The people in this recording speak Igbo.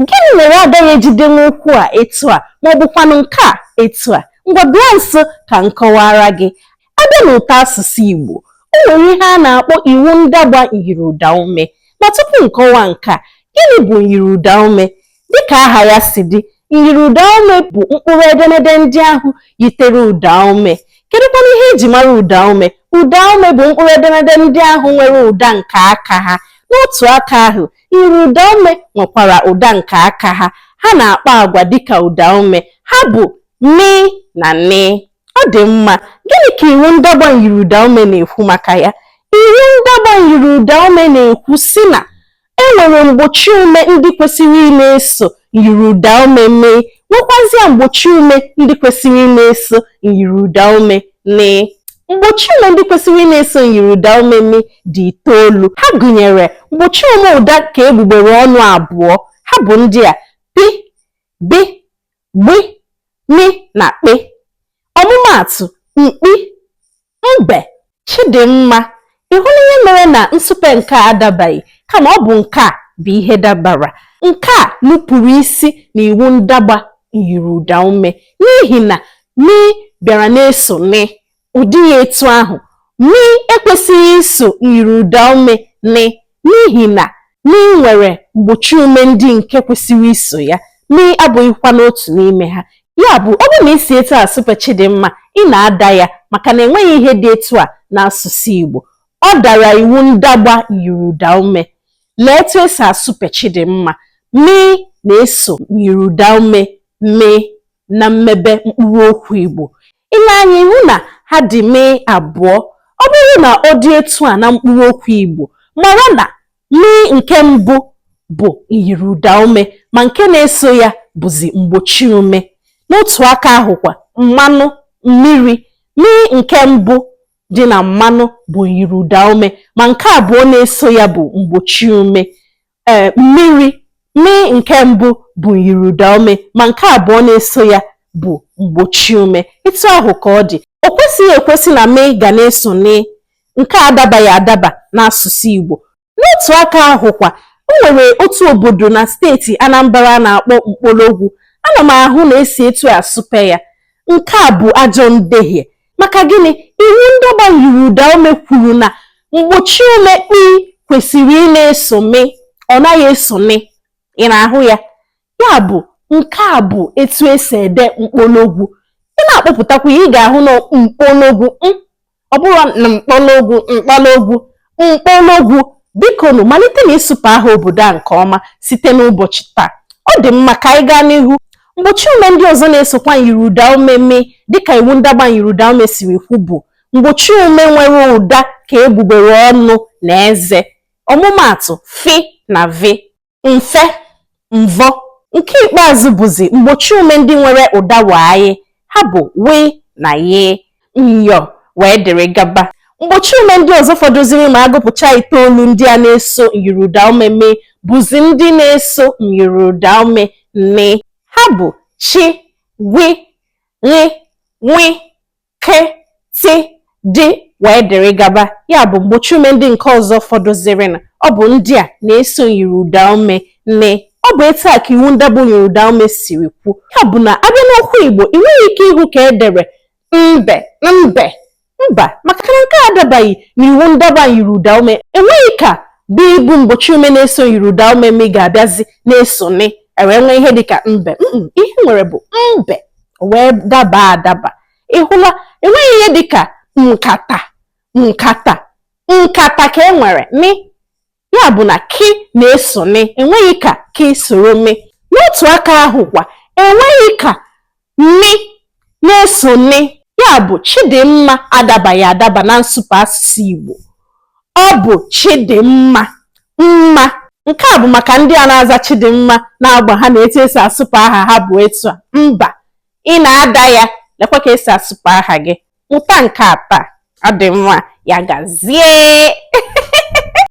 gịnị mere a gaghị eji dee okwu a etu a ma ọ bụkwanụ nke a etu a ngwa bịa nso ka m kọwaara gị a bịa n'ụtọ asụsụ Igbo o nwere ihe a na-akpọ iwu ndagba myiri ụda ume ma tupu nkọwa nke a gịnị bụ myiri ụda ume dịka aha ya si dị myiri ụda ume bụ mkpụrụ edemede ndị ahụ yitere ụda ume kedụkwanụ ihe eji mara ụda ume ụda ume bụ mkpụrụ edemede ndị ahụ nwere ụda nke aka ha n'otu aka ahụ Myiri ụdaume nwekwara ụda nke aka ha. Ha na-akpa agwa dịka ụdaume. Ha bụ mị na nị. Ọ dị mma, gịnị ka iwu ndagba myiri ụdaume na-ekwu maka ya? Iwu ndagba myiri ụdaume na-ekwu sị na e nwere mgbochiume ndị kwesịrị ịna-eso Myiri ụda ume mị nwekwazịa mgbochi ume ndị kwesịrị ị na-eso myiri ụda ume nị. Mgbochi ume ndị kwesịrị ị na-eso myiri ụda ume mị dị itoolu. Ha gụnyere mgbochi ume ụda ka egbugbere ọnụ abụọ. Ha bụ ndị a, pị, bị, gbị, mị na kpị. Ọmụmaatụ, mkpi, Mbe, Chidimma, ị hụla ihe mere na nsupe nke a adabaghị kama ọ bụ nke a bụ ihe dabara. Nke a nupụrụ isi n'iwu ndagba myiri ụda ume n'ihi na mị bịara na-eso nị. Ọ dịghị etu ahụ. Mị ekwesịghị iso myiri ụda ume nị N'ihi na nị nwere mgbochi ume ndị nke kwesịrị iso ya, mị abụghịkwanụ otu n'ime ha. Ya bụ, ọ bụrụ na i si etu a sụpe Chidimma, ị na-ada ya maka na enweghị ihe dị etu a n'asụsụ Igbo. Ọ dara iwu ndagba myiri ụdaume. Lee etu e si asụpe Chidimma. Mị na-eso myiri ụdaume mị na mmebe mkpụrụ okwu Igbo. I lee anya ị hụ na ha dị mị abụọ. Ọ bụrụ na ọ dị etu a na mkpụrụ okwu Igbo, mara na mị nke mbụ bụ myiri ụdaume ma nke na-eso ya bụzi mgbochiume. N'otu aka ahụkwa, mmanụ, mmiri, mị nke mbụ dị na mmanụ bụ myiri ụdaume ma nke abụọ na-eso ya bụ mgbochiume. mmiri mị nke mbụ bụ myiri ụda ume ma nke abụọ na-eso ya bụ mgbochi ume etu ahụ ka ọ dị o kwesịghị ekwesị na mị ga na-eso nị nke a adabaghị adaba n'asụsụ Igbo n'otu aka ahụkwa o nwere otu obodo na steeti Anambra a na-akpọ mkpologwu ana m ahụ na e si etu a asụpe ya nke a bụ ajọ ndehie maka gịnị iwu ndagba myiri ụda ume kwuru na mgbochi ume kpi kwesịrị ị na-eso mị ọ naghị eso nị ị na-ahụ ya ya bụ nke a bụ etu e si ede mkpologwu ị na-akpọpụtakwa ya ị ga-ahụ na mkpologwu ọ bụrụ na mkpologwu mkpologwu mkpologwu bikonu malite na ịsụpe aha obodo a nke ọma site n'ụbọchị taa ọ dị mma ka anyị gaa n'ihu mgbochi ume ndị ọzọ na-esokwa myiri ụda ume mị dịka iwu ndagba myiri ụda ume siri kwu bụ mgbochi ume nwere ụda ka egbugbere ọnụ na eze ọmụmaatụ fi na vi mfe mvọ nke ikpeazụ bụzi mgbochi ume ndị nwere ụda waayị ha bụ wị na yị myọ wee dịrị gaba mgbochi ume ndị ọzọ fọdụziri ma agụpụcha itoolu ndị a na-eso myiriụda ume mị bụzi ndị na-eso myiriụda ume nị ha bụ chi gwi ri nwi kị tị dị wee dịrị gaba ya bụ mgbochi ume ndị nke ọzọ fọdụzirinụ ọ bụ ndị a na-eso myiri ụda ume nị ọ bụ etu a ka iwu ndagba myiri ụda ume siri kwu ya bụ na a bịa n'okwu igbo ị nweghị ike ịhụ ka e dere nbe nbe mba maka na nke a adabaghị n'iwu ndagba myiri ụda ume enweghị ka bị bụ mgbochi ume na-eso myiri ụda ume mị ga-abịazi na-eso nị e wee nwee ihe dịka nbe ihe e nwere bụ mbe wee daba adaba ị hụla enweghị ihe dịka mkata nkata nkata ka e nwere nị ya bụ na kị na-eso nị enweghị ka kị soro mị n'otu aka ahụ kwa enweghị ka mị na-eso nị ya bụ Chidinma adabaghị adaba na nsụpe asụsụ Igbo Ọ bụ Chidimma. Mma. Nke a bụ maka ndị a na-aza Chidimma na-agwa ha na etu e si asụpe aha ha bụ etu a. Mba. Ị na-ada ya. Lekwa ka e si asụpe aha gị. Mụta nke a taa. Ọ dị mma. Ya gazie.